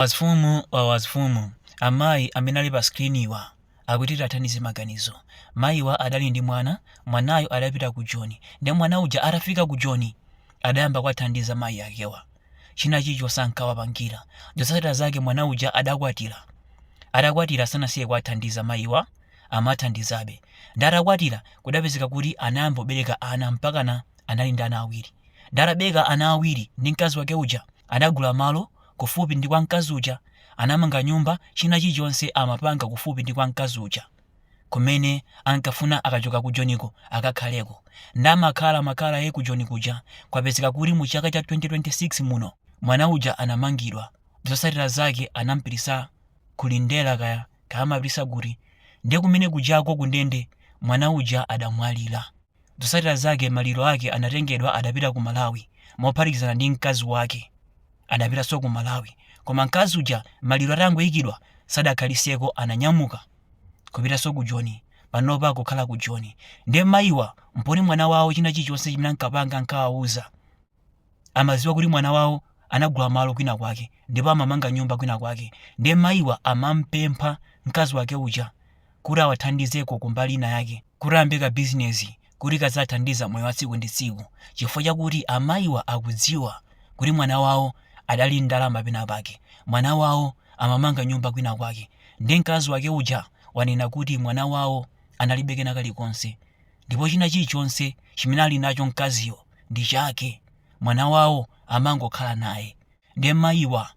Wazifumu wa wazifumu, amayi amene ali pa screenwa akuti tiwathandize maganizo. Mayiwa adali ndi mwana, mwanayo adapita ku Joni nde mwana uja atafika ku Joni adayamba kuwathandiza mayi akewa. China chilichonse ankawapangira. Zotsatira zake mwana uja adakwatira. Atakwatira sanasiye kuwathandiza mayiwa, amathandizabe. Nde atakwatira kudapezeka kuti anayamba kubereka ana mpakana anali ndi ana awiri. Nde atabereka ana awiri ndi mkazi wake uja adagula malo kufupi ndi kwa mkazi uja anamanga nyumba china chilichonse amapanga kufupi ndi kwa mkazi uja kumene ankafuna akachoka ku joniko akakhaleko nde amakhalamakhalabe ku joni kuja kwapezeka kuti mu chaka cha 2026 muno mwana uja anamangidwa zotsatira zake anampititsa kulindera kaya kaya amapititsa kuti ndiye kumene kujako kundende mwana uja adamwalira Zotsatira zake maliro ake anatengedwa adapita ku Malawi mophatikizana ndi mkazi wake adapitanso ku Malawi koma mkazi uja maliro atangoikidwa sadakhalitseko ananyamuka kupitanso ku Joni panopa akukhala ku Joni nde mayiwa popeza mwana wawo china chilichonse chimene ankapanga ankawauza amadziwa kuti mwana wawo anagula malo kwina kwake ndipo amamanga nyumba kwina kwake ndiye mayiwa amampempha mkazi wake uja kuti awathandizeko kumbali ina yake kuti ayambe ka bizinesi kuti kaziwathandiza moyo wa tsiku ndi tsiku chifukwa chakuti amayiwa akudziwa kuti mwana wawo adali ndi ndalama pena pake mwana wawo amamanga nyumba kwina kwake ndiye mkazi wake uja wanena kuti mwana wawo analibe kena kalikonse ndipo china chilichonse chimene ali nacho mkaziyo ndi chake, mwana wawo amangokhala naye. Nde mayiwa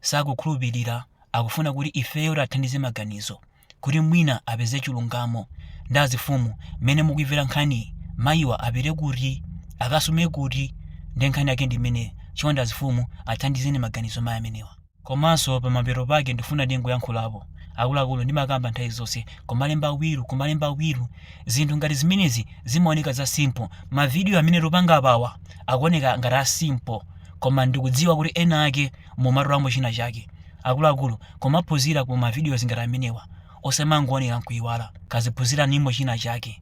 sakukhulupirira akufuna kuti ifeyo tiathandize maganizo kuti mwina apeze chilungamo. Nde azifumu mmene mukuivera nkhaniyi mayiwa apite kuti? Akasume kuti? Nde nkhani yake ndi imeneyo chonde azifumu athandizeni maganizo mayi amenewa. Komanso pamapeto pake ndifuna ndingoyankhulapo. Akuluakulu ndimakamba nthawi zonse kumalemba will kumalemba will. Zinthu ngati zimenezi zimaoneka za simple. Ma video amene tupanga apawa akuoneka ngati a simple koma ndikudziwa kuti ena ake mumatolamo china chake. Akuluakulu kumaphunzira ku ma videos ngati amenewa osamangoonera nkuiwala. Kaziphunziranimo china chake.